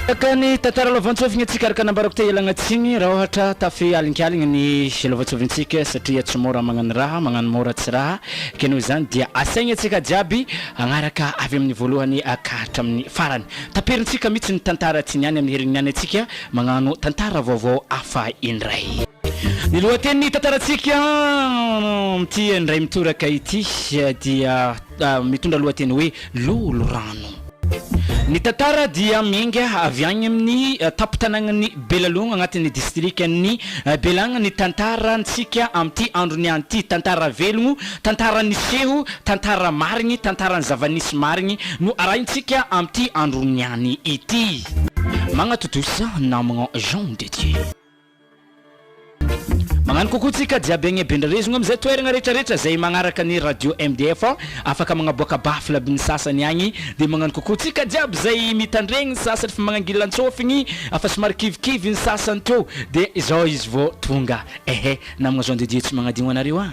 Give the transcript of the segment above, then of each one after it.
Araka ny tantara lovantsofina antsika araka nambarako teo ialagna tsiny raha ohatra tafy alingaligny ny lovantsofin-tsika satria tsy môra magnano raha magnano môra tsy raha ke noho izany dia asaigny antsika jiaby agnaraka avy amin'ny voalohany ka hatramin'ny farany taperintsika mitsy ny tantara tsiny any amin'ny herin'ny any antsika magnano tantara vaovao hafa indray. Ny lohatenin'ny tantarantsika amin'ity indray mitoraka ity dia. mitondra lohateny hoe Lolorano. Ny tantara dia miainga avy any amin'ny tampon-tanànan'i Belalogna agnatin'ny distrikan'i Belagna ny tantarantsika amin'ity andro niany ity. Tantara velogno, tantara niseho, tantara marigny, tantaran'ny zava-nisy marigny no arahintsika amin'ity andro niany ity. Magnatotosa namagna Jean de Dieu. Mañano kokoa tsika jiaby agne Bendrarezogna amizay toeragna rehetra rehetra zay magnaraka ny radio MDF afaka magnaboaka baffle aby ny sasany agny de mañano kokoa tsika jiaby zay mitandregny ny sasany fa magnangilantsofigny fa somary kivikivy ny sasany teo de izao izy vao tonga ehe namagna zao de Dieu tsy magnadigno anareo a.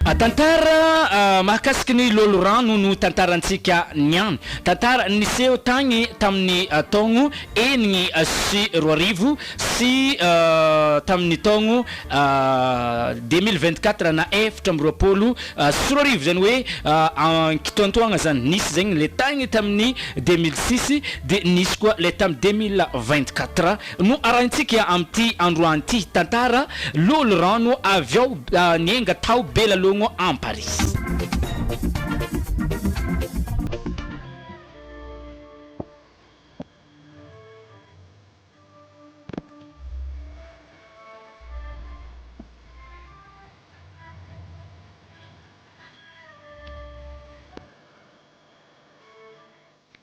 Tantara mahakasiky ny loholorano no tantarantsika niany. Tantara niseho tagny tamin'ny taogno enigny sy roa arivo sy tamin'ny taogno deux mille vingt quatre na efatra amby roapolo sy roa arivo zany hoe ankitoantoagna zany nisy zegny le tagny tamin'ny deux mille six de nisy koa le tamin'ny deux mille vingt quatre No arahintsika amin'ity androany ity tantara Lolo rano avy ao niainga tao Belalogno Amparihy.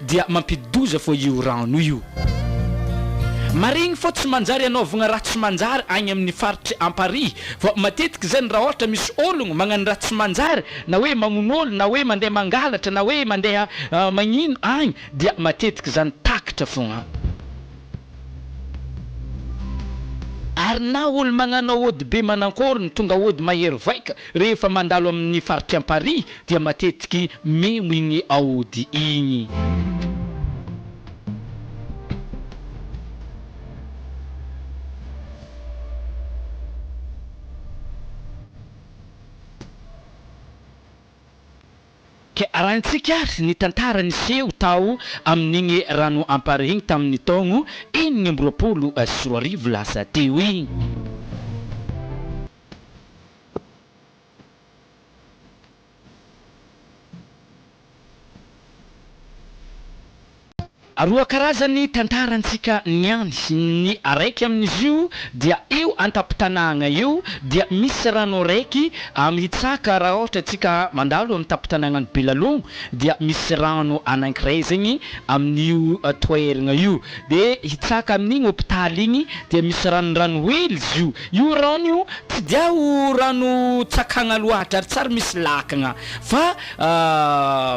Dia mampididoza fô io rano io. Marigny fô tsy manjary anaovagna raha tsy manjary agny amin'ny faritry amparihy vao matetiky zany raha ôhatra misy ôlogno magnano raha tsy manjary na hoe magnono ôlo na hoe mandeha mangalatra na hoe mandeha magnino agny dia matetiky zany takatra fôgna. Ary na olo magnano aody be manankory no tonga aody mahery vaika rehefa mandalo amin ny faritry amparihy dia matetiky memo igny aody igny. Ka arahintsika ary ny tantara niseho tao amin'igny rano ampara igny tamin'ny taogno enigny amby roapolo sy roa arivo lasa teo igny. Roa karazany ny tantarantsika niany, ny araiky amin'izy io dia io an-tampon-tanàgna io dia misy rano araiky mitsaka raha ohatra tsika mandalo amin'ny tampon-tanàgnan'i Belalogno dia misy rano anankiray zegny amin'io toeragna io de hitsaka amin'igny hopitaly igny dia misy ranondrano hely izy io, io rano io tsy dia ho rano tsakagna loatra ary tsary misy lakagna fa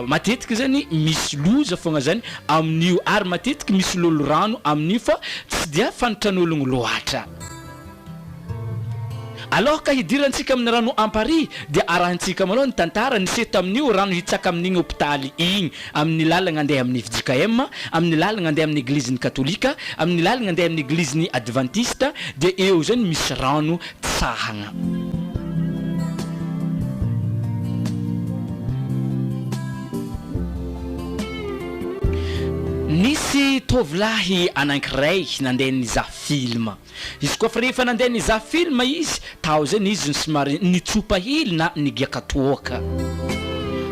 Matetika zany misy loza fogna zany amin'io ary matetiky misy lolorano amin'io fa tsy dia fantran'ologno loatra. Aloha ka hidirantsika amin'ny rano amparihy dia arahintsika malôha ny tantara niseho tamin'io rano hitsaka amin'igny hopitaly igny amin'ny lalagna andeha amin'ny fjkm, amin'ny lalagna andeha amin'ny eglizin'ny katolika, amin'ny lalagna andeha amin'ny eglizin'ny advantista dia eo zany misy rano fitsahana. Nisy tovolahy anankiray nandeha nizaha film. Izy koa fa rehefa nandeha nizaha film izy, tao izay ny izy no somary nitsopa hely na nigiaka toaka.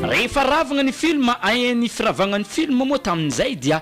Rehefa ravagna ny film, ahiahin'ny firavagna ny film moa tamin'izay dia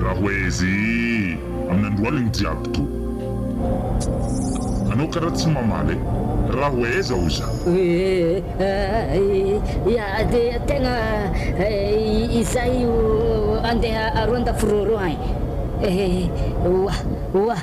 Raha hoe izy amin'ny androaniny jiaby ko. Anao karaha tsy mamaly e! Raha hoe aiza hoy za? Ia dia tegna izaho io andeha aroan-dafy rôrô agny e! Oah! Oah!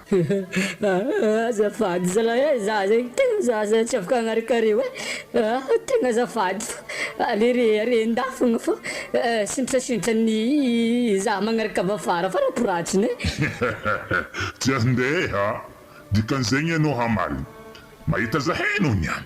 Azafady zalahy eh, za zegny tegna za zay tsy afaka agnaraka areo eh, tegna azafady fa aleo re are an-dahy fôgna fa sindrasindran'ny za magnaraka avy afara fa rakoratsiny eh. Tsy andeha, dikan'izegny anao hamaly mahita zahay anao niany.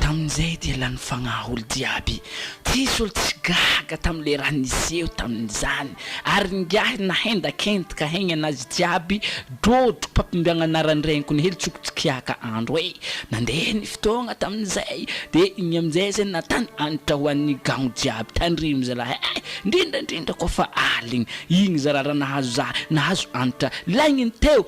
Tamin'izay dia lany fagnahy olo jiaby, tsisy olo tsy gaga tam le raha niseho tamin'izany, ary ingahy nahendakendka hegny anazy jiaby drodro papimbiagna anaran'i reniko ny hely tsoko tsikiaka andro e! Nandeha ny fotoagna tamin'izay dia igny amin'izay zay natany antra ho an'ny gagno jiaby, tandremo zalah eh! ndrindra ndrindra koa fa aligny, igny zara raha nahazo za, nahazo antra, laigny ny teo,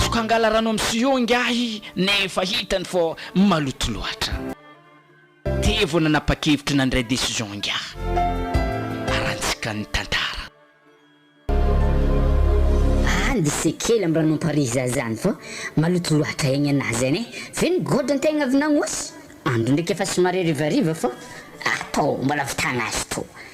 Toko angala rano am sio ingahy nefa hitany fa maloto loatra. Teo vao nanapakevitra nandray decision ingahy. Arantsika ny tantara. Aly se kely am ranompariza zany fa maloto loatra egny ana zany e! Ve ny gold ntegna avy nagnôsy? Andro ndraiky efa somary harivariva fa atao mba lavitagna azy tô.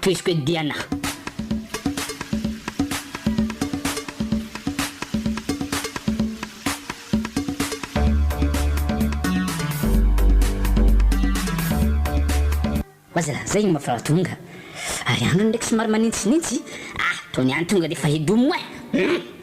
Tohiziko eto Diana a. Aza lazaigny ma fa tonga ary androny ndraiky somary manintsinitsy ah tony any tonga defa hidomo eh!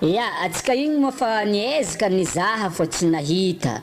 Ya, atsika igny moa fa niezaka nizaha fa tsy nahita.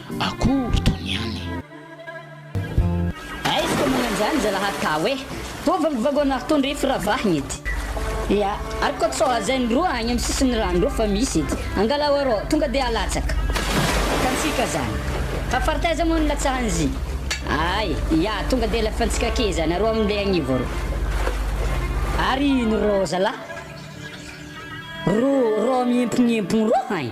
akory toy ny any. Aizy koa moa an'izany zalahy ka hoe ho vangovangoana ary tondro ify ravahina ity. Ia, ary koa sao hajain'ny roa any amin'ny sisin'ny rano roa fa misy ity. Angalao arô, tonga dia halatsaka. Hitantsika izany. Fa faritaiza moa no hilatsahan'izy? Ay, ia, tonga dia halefantsika akia izany arô amin'ilay agnivo arô. Ary ino rô zalahy? Roa, roa miempognempogno roa any.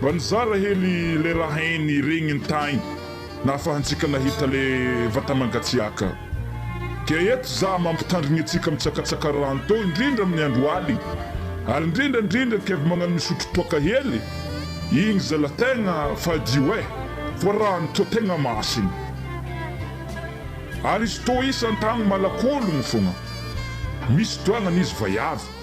Mba nizara hely le raha hainy regniny tagny nahafahantsika nahita le vatamangatsiaka. Dia eto za mampitandrigny antsika mitsakatsaka rano tô indrindra amin'ny andro aligny ary indrindra indrindra kevy magnano misotro toaka hely igny zala tegna fadio eh fa rano tô tegna masigny ary izy tô isan-tagny malakologno fogna misy doagnany izy vaiavy.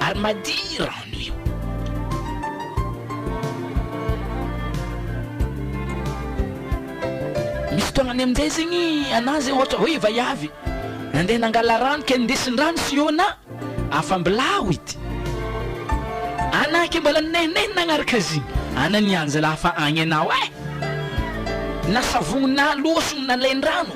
ary madio rano io. Misy fotoagna ny amin'izay zegny anà zay ohatra hoe vaiavy nandeha nangala rano ke nindesin-drano sihôna afam-bilao ity anà ke mbola ninehinehina nagnaraka azy igny, anà nianjalafa agny anao eh! Nasavognonà loha sy nalain-drano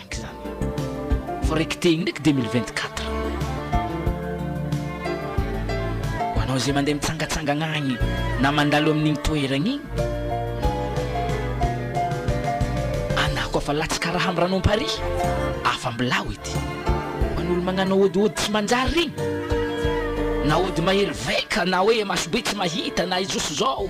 Ndraiky zany fa raiky tegny ndraiky deux mille vingt quatre. Ho anao izay mandeha mitsangatsangagna agny na mandalo amin'igny toeragna igny, anà koa fa latsaka raha am' ran'ompari, afa mbilao ity. Ho an'olo magnano ôdihôdy tsy manjary regny, na ôdy mahery vaika na hoe masobe tsy mahita na izao sy zao.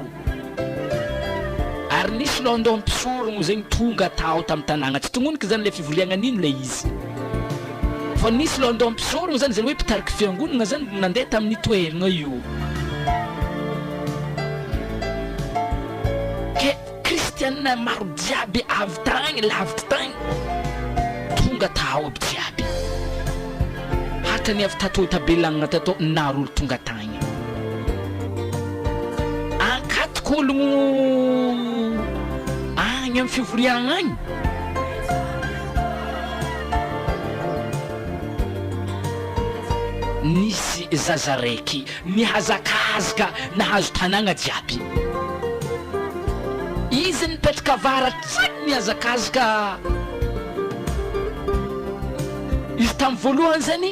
Ary nisy London mpisorona moa zegny tonga tao tam tanàgna, tsy tognonoka zany le fivoriagna nino le izy, fa nisy London mpisorona zany zany hoe mpitariky fiangonagna zany nandeha tamin'io toeragna io, ke kristiana maro jiaby avy tagny lavitry tagny tonga tao aby jiaby, hatany avy tato tabelagna tato naro olo tonga tagny. Ankatoky ologno agny amin'ny fivoriagna agny. Nisy zaza raiky nihazakazaka nahazo tanagna jiaby. Izy nipetraka avaratr'i nihazakazaka. Izy tamin'ny voalohany zany.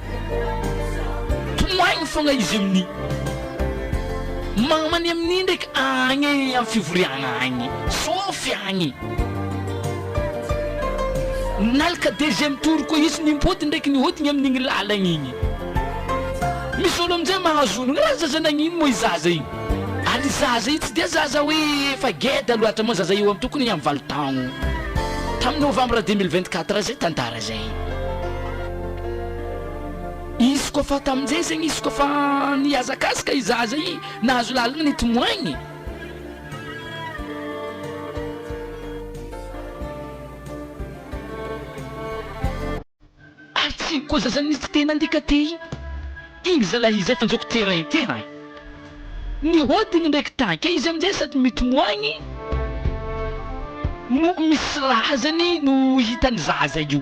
Tomoahiny fogna izy amin'i. Mamany amin'i ndraiky agny am fivoriagna agny. Sôfy agny. Nalaka deuxième tour koa izy nimpody ndraiky nihodigny amin'igny lalagna igny. Misy olo amin'izay mahazo onogna ah zaza nagnino moa i zaza io. Ary i zaza io tsy dia zaza hoe efa geda loatra moa zaza io am tokony am valo taogno. Tamin'ny novambra deux mille vingt quatre zay tantara zay. Izy koa fa tamin'izay zegny izy koa fa nihazakazaka i zaza i nahazo lalana nety moigny. Ary tsy igny koa zaza nisy tena andika tey igny zalahy izay fa njoky terrain tena. Ny hodiny ndraiky taika izy amin'izay sady mitomoagny no misy razany no hitan'ny zaza io,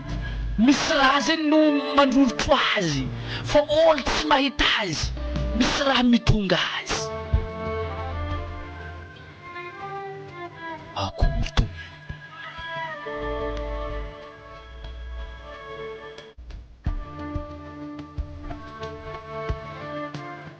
misy razany no mandrorotro azy fa olo tsy mahita azy, misy raha mitondra azy. Akory Tompo.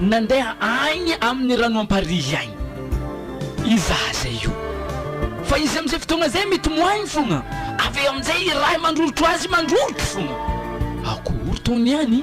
Nandeha agny amin'ny rano amparihy agny i zaza io, fa izy amin'izay fotoagna izay mitomoagny fogna, avy eo amin'izay i Raha mandrorotro azy mandrorotro fogna. Akory tô niany?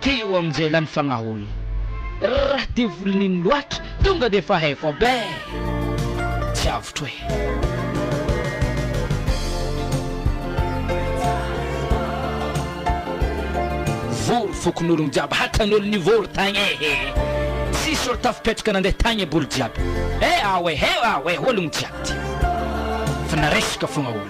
Teo amin'izay lany fagnaholy. Rah devoly nino loatra tonga de efa hay fa beh! Tsy avotro eh! Vory fokonolon jiaby hatanolo nivory tagny ehe! Tsisy olo tafipetraka nandeha tagny eboly jiaby eh! Ao eh! Ao eh! Ologno jiaby ty fa naresaka fogna olo.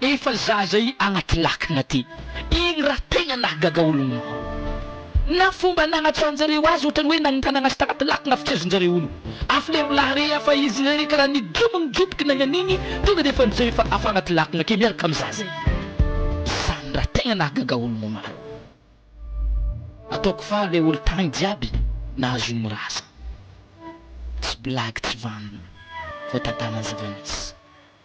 Efa zaza i anaty lakana ty iny raha tegna nahagaga olo ny na fomba nagnatsarajareo azy otrany hoe nagnintagna azy tagnaty lakana fitiazanjareo olo afa le mbola harea fa izy le karaha nidono nijoboky nagnanigny tonga defa njay efa afa agnaty lakana ake miaraka am zaza i zany raha tegna nahagaga olo no maro ataoko faly le olo tagny jiaby nahazo ny razana tsy blagy tsy vanona fa tantana zava misy.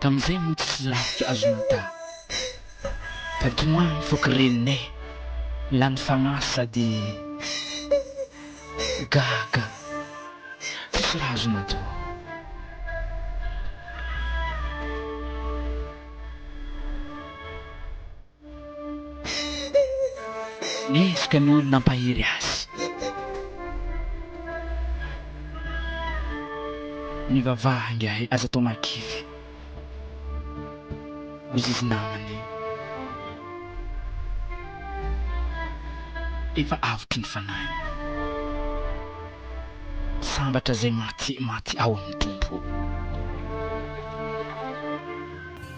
Tamin'izay moa tsisy lafika azo nata Fa tomany ny foko reninay Lany fagnahy sady gaga Tsisy raha azo natao Mihezaka ny olona hampahery azy. Mivavaha ingahy aza atao mahakivy. Ho zizy namany. Efa avotry ny fanahy. Sambatra izay maty maty ao amin'ny Tompo.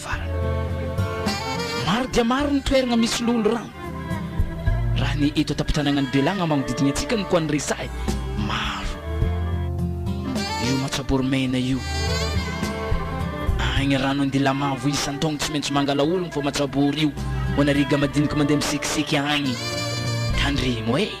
farany. Maro dia maro ny toerana misy lolo rano. Raha ny eto an-tampon-tanànan'i Belagna manodidina antsika no koa no resahy, maro. Io Matsabory Mena io. Agny rano an-dilamavo isan-taogno tsy maintsy mangala ologno fa Matsabory io. Ho anareo ga madiniky mandeha misekiseky agny. Tandremo e!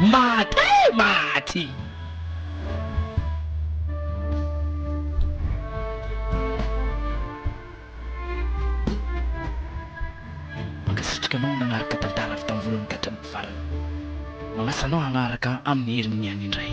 Maty eh! Maty! Mankasitraka anao nanaraka tantara avy tamin'ny voalohany ka hatramin'ny farany. Manasa anao hanaraka amin'ny herin'ny any indray.